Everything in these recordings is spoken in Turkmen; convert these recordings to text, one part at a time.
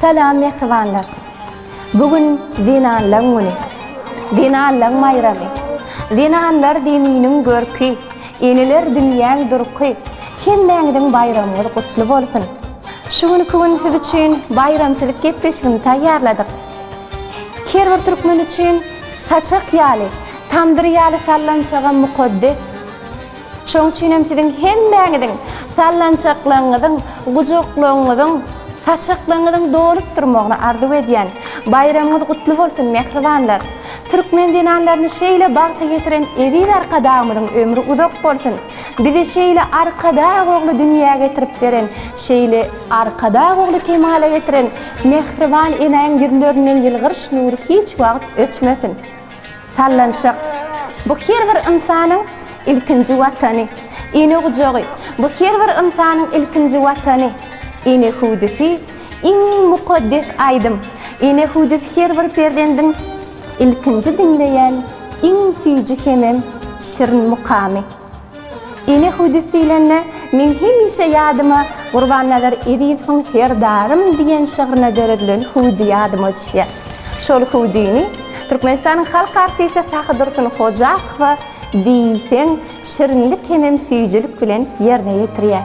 Salam mähribanlar! Bu gün zenanlaň güni. Zenanlaň baýramy. Zenanlar zeminiň görki, eneler dünýäň durky. Hemmäňiziň baýramyňyz gutly bolsun! Şu günki gün siz üçin baýramçylyk gepleşigini taýýarladyk. Her bir türkmen üçin saçak ýaly, tamdyr ýaly sallançagam mukaddes. Şoň üçin hem siziň hemmäňiziň sallançaklygyňyzyň, gujaklygyňyzyň, saçaklygyňyzyň dolup durmagyny arzuw edýän. Baýramyňyz gutly bolsun, mähribanlar! Türkmen zenanlaryny şeýle bagta getiren eziz Arkadagymyzyň ömri uzak bolsun! Bizi şeýle Arkadag ogly dünýä getirip beren, şeýle Arkadag ogly kemala getiren mähriban enäň ýüzlerinden ýylgyryş nury hiç wagt öçmesin! Sallançak, bu her bir ynsanyň ilkinji watany. Ene gujagy, bu her bir ynsanyň ilkinji watany. Ene hüwdüsi, iň mukaddes aýdym. Ene hüwdüsi her bir perzendiň ilkinji diňleýän iň süýji hemem şirin mukamy. Ene Hudis diýlende, meň hemişe ýadyma Gurbannazar Ezizowyň Serdarym diýen şygrynda döredilen Hudi ýadyma düşýär. Şol Hudini Türkmenistanyň halk artisti Sahydursun Hojakowa diýseň şirinlik hemem süýjülik bilen ýerine ýetirýär.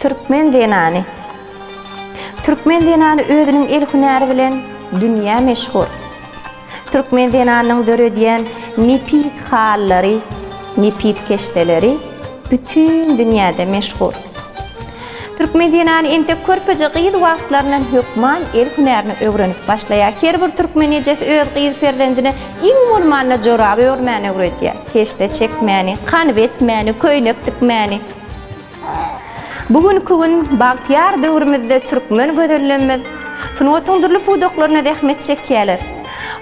Türkmen zenany Türkmen zenany özüniň el hünäri bilen dünýä meşhur. Türkmen zenanynyň döredýän nepis halyllary, nepis keşdeleri bütin dünýäde meşhur. Türkmen zenany entek körpeje gyz wagtlaryndan hökman el hünärini öwrenip başlaýar. Her bir türkmen ejesi öz gyz perzendine iň bolmanda joraby örmäni öwredýär. Keşde çekmäni, kanyp etmäni, köýnek tikmäni. Bu günki gün bagtyýar döwrümizde türkmen gözellerimiz sungatyň dürli pudaklarynda zähmet çekýärler.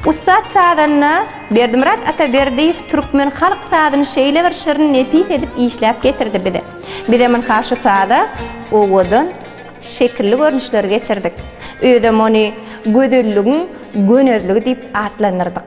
Ussat sazanda Berdimyrat Ataberdiýew türkmen halk sazyny şeýle bir şirin, nepis edip işläp getirdi bize. Bizem ynha şu saza owadan, şekilli görnüşleri geçirdik. Özem ony gözelligiň gönezligi diýip atlandyrdyk.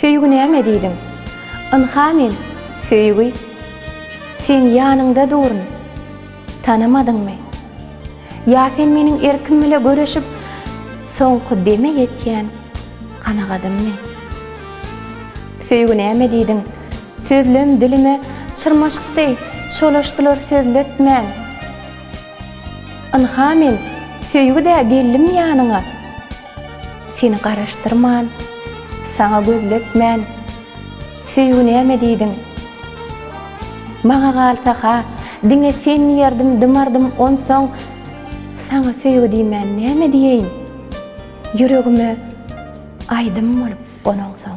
Söýgi näme diýdiň? Ynha men, söýgi. Seň ýanyňda duryn. Tanamadyňmy? Ýa sen meniň erkim bile göreşip, soňky deme ýetýän kanagadymmy? Söýgi näme diýdiň? Sözlem dilime çyrmaşykdy, çolaşdylar sözletmän. Ynha men, söýgi-dä geldim ýanyňa. Seni garaşdyrman, saňa gözletmän, Söýgi näme diýdiň? Maňa galsa-ha, diňe sen diýerdim, dymardym, Onsoň, saňa söýgi diýmän näme diýeýin? Ýüregime aýdym bolup gonaňsoň.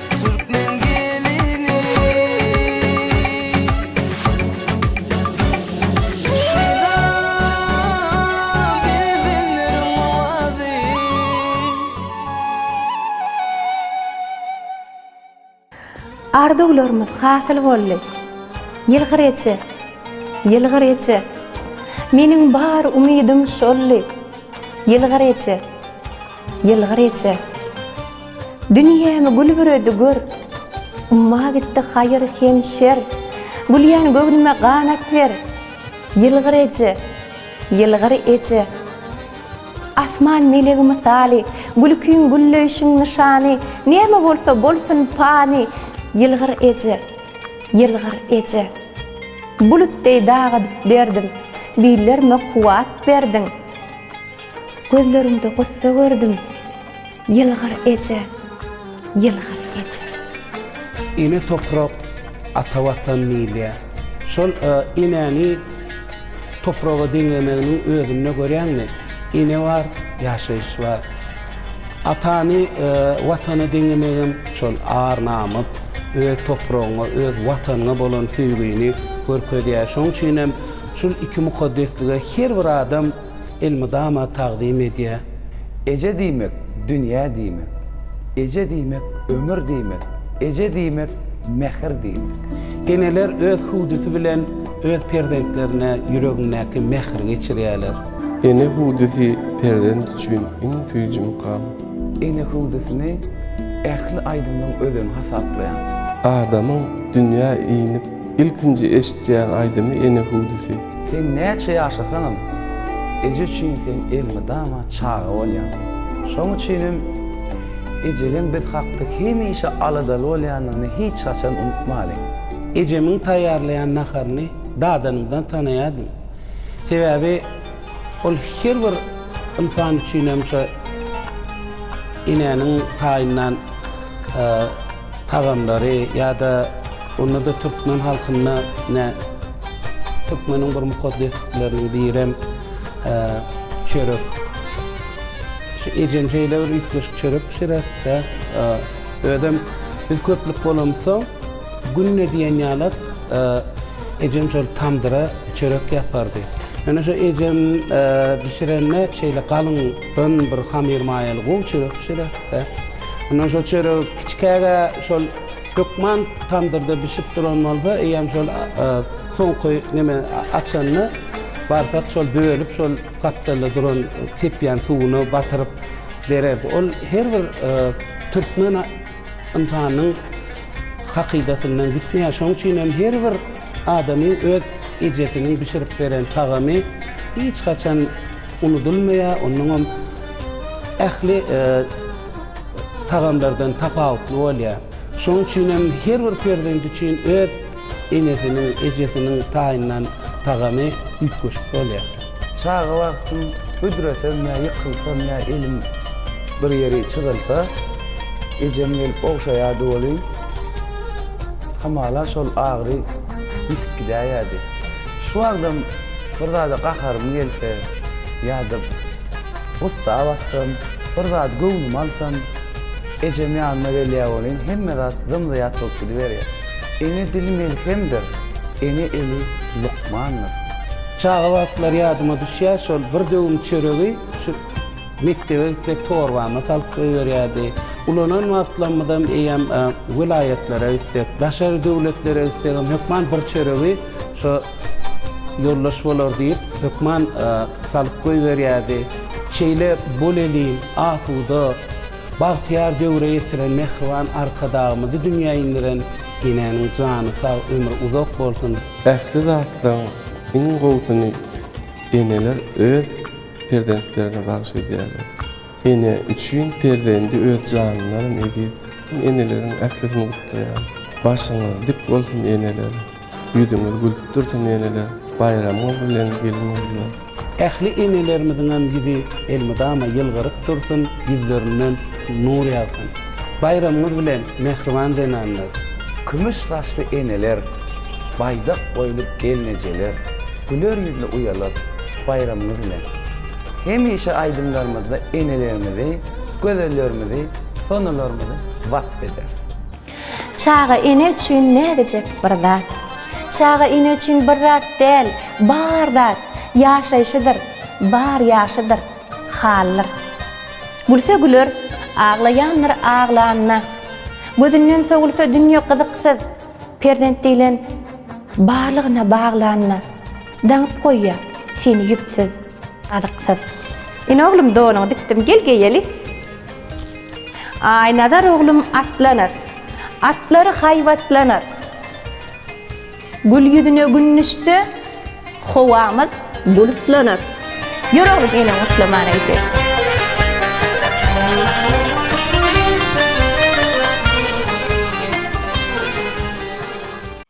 Arzuwlarymyz hasyl boldy. Ýylgyr eje, ýylgyr eje, Meniň bar umydym şoldy. Ýylgyr eje. Ýylgyr Rejep. Dünýämi gül büredi, gör. Umma gitdi haýyr hem şer. Gülýän göwnüme ganat ber. Ýylgyr Eje, Ýylgyr Eje. Asman melegi mysaly, Gülkiň gülleýşiň nyşany, Näme bolsa bolsun pany, Ýylgyr Eje, Ýylgyr Eje. Bulut deý dagydyp derdim, Billerime kuwwat berdiň. Gözleriňde gussa gördüm. Ýylgyr eje, ýylgyr eje. Ene toprak, ata watan diýilýär. Şol enäni topraga deňemeginiň özünde görýäňmi, ene bar, ýaşaýyş bar. Atany watana deňemegem şol ar-namys, öz topragyňa, öz watanyňa bolan söýgini görkezýär. Şonuň üçinem şul iki mukaddeslige her bir adam. elmydama tagzym edýär. Eje diýmek, dünýä diýmek. Eje diýmek, ömür diýmek. Eje diýmek, mähir diýmek. Eneler öz hüwdüsi bilen öz perzentlerine ýüregindäki mähri geçirýärler. Ene hüwdüsi perzent üçin iň süýji mukam. Ene hüwdüsini ähli aýdymlaryň özeni hasaplaýar. Adamyň dünýä inip Ilkinji eşitýän aýdymy ene hüwdüsi. Sen näçe ýaşasaňam, eje üçin sen elmydama çaga bolýaň. Şoň üçin hem ejeleň biz hakda hemişe aladaly bolýandygyny hiç haçan unutmalyň. Ejemiň taýýarlaýan naharyny dadanymdan tanaýardym. Sebäbi ol her bir ynsan üçin hem şo enäniň taýyndan. Tagamlary ýa-da onda-da türkmen halkynda ne türkmeniň bir mukaddeslikleriniň birem çörek. Şu ejem şeýle bir üýtgeşik çörek bişirer-de, özem biz köplük bolamyzsoň, günde diýen ýalam ejem şol tamdyra çörek ýapardy. Ýöne şu ejem bişirende şeýle galyňdan bir hamyrmaýaly gowy çörek bişirer. Ondan şol çöregi kiçikäge şol hökman tamdyrda bişip duran bolsa, eýýäm şol soňky neme açanda barsak şol bölüp şol gapdalda duran sepýän suwuna batyryp bererdi. Ol her bir türkmen ynsanynyň hakydasyndan gitmeýär. Şonuň üçin hem her bir adamyň öz ejesiniň bişirip beren tagamy hiç haçan Unudylmaýar, onnoňam ähli tagamlardan tapawutly bolýar. Şonuň üçin hem her bir perzent üçin öz enesiniň, ejesiniň taýynlan tagamy üýtgeşik bolýar. Çaga wagtym büdresem ýa ýykylsam ýa elim bir ýeri çyzylsa, ejem gelip ogşaýardy welin, hamala şol agyry ýitip gidäýerdi. Şu wagtam bir zada gaharym gelse ýa-da gussa batsam, bir zat göwnümi alsam, ejem ýanyma gelýär welin, hemme zat zym-zyýat bolup gidiberýär. Ene dili melhemdir, ene eli lukmandyr. Çaga wagtlary ýadyma düşýär, şol bir döwüm çöregi şu mekdebe gitsek torbama salyp goýberýärdi. Ulanan wagtlarymyzam eýýäm welaýatlara gitsek, daşary döwletlere gitsegem hökman bir çöregi Şo ýoldaş bolar diýip, hökman salyp goýberýärdi. Şeýle bolelin, asuda, bagtyýar döwre ýetiren mähriban Arkadagymyzy dünýä indiren enäniň jany sag, ömri uzak bolsun! Ähli zatlaryň iň gowusyny eneler öz perzentlerine bagyş edýärler. Ene üçin perzendi öz janyndanam eziz. Men eneleriň ählisini gutlaýan. Başyňyz dik bolsun eneler. Ýüzüňiz gülüp dursun eneler. Baýramyňyz bilen gelin gyzlar. Ähli enelerimiziňem ýüzi elmydama ýylgyryp dursun, ýüzlerinden nur ýagsyn. Baýramyňyz bilen mähriban zenanlar. Kümüş saçly eneler, baýdak boýly gelnejeler, güler ýüzli uýalar, baýramyňyz bilen! Hemişe aýdymlarymyzda enelerimizi, gözellerimizi, sonalarymyzy wasp ederis. Çaga ene üçin näzijek bir zat. Çaga ene üçin bir zat däl, bar zat, ýaşaýşydyr, bar ýaşydyr, haldyr. Gülse güler, aglaýandyr aglanda. Gözünden sowulsa dünýe gyzyksyz, perzent diýlen barlygyna baglanda. Daňyp goýýa seni ýüpsüz, azyksyz. Ine oglum donuňy dikdim gel geýeli. Aý Nazar oglum atlanar. Atlary haýbatlanar. Gül ýüzüne gün düşse howamyz bulutlanar. Ýör oglum eneňi gutlaman öýde.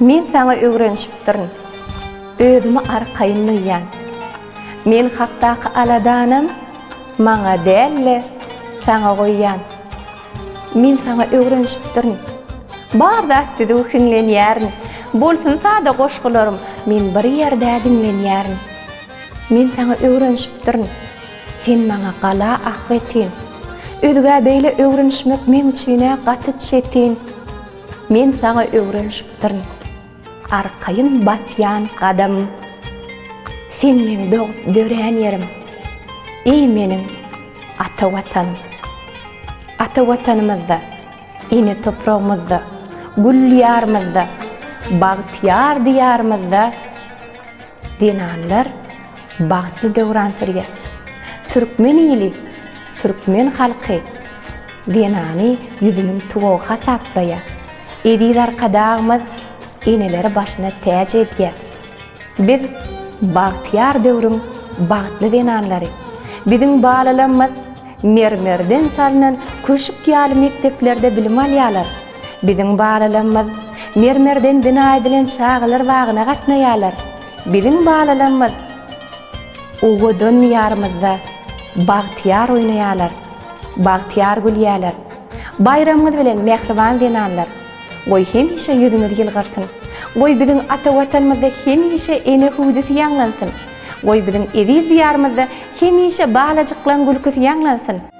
Men saňa öwrenişipdirin. Özümi arkaýyn duýýan. Men hakdaky aladanam maňa däl-de, saňa goýýan. Men saňa öwrenişipdirin. Bar zat düzüw hiňlenýärin. Bolsun sada goşgularym, men bir ýerde diňlenýärin. Men saňa öwrenişipdirin. Sen maňa gala ahbetin. Özgä beýle öwrenişmek meň üçin-ä gaty çetin. Men saňa öwrenşipdirin. Arkaýyn basýan gadam. Sen meň dogup dörän ýerim. Eý meniň ata Watanym. Ata Watanymyzda, ene topragymyzda, gül Diýarymyzda, bagtyýar Diýarymyzda zenanlar bagtly döwran sürýär. Türkmen ili Türkmen halky zenany ýüzüniň tuwagy hasaplaýar. Eziz Arkadagymyz eneleri başyna täç edýär. Biz bagtyýar döwrüň bagtly zenanlary. Biziň balalamyz mermerden salnan köşük ýaly mekdeplerde bilim alýarlar. Biziň balalamyz mermerden bina edilen çagalar bagyna gatnaýarlar. Biziň balalarymyz owadan Diýarymyzda bagtyýar oýnaýarlar, bagtyýar gülýärler. Baýramyňyz bilen mähriban zenanlar! Goý hemişe ýüzüňiz ýylgyrsyn! Goý biziň ata Watanymyzda hemişe ene hüwdüsi ýaňlansyn! Goý biziň eziz Diýarymyzda hemişe balajyklaň gülküsi ýaňlansyn!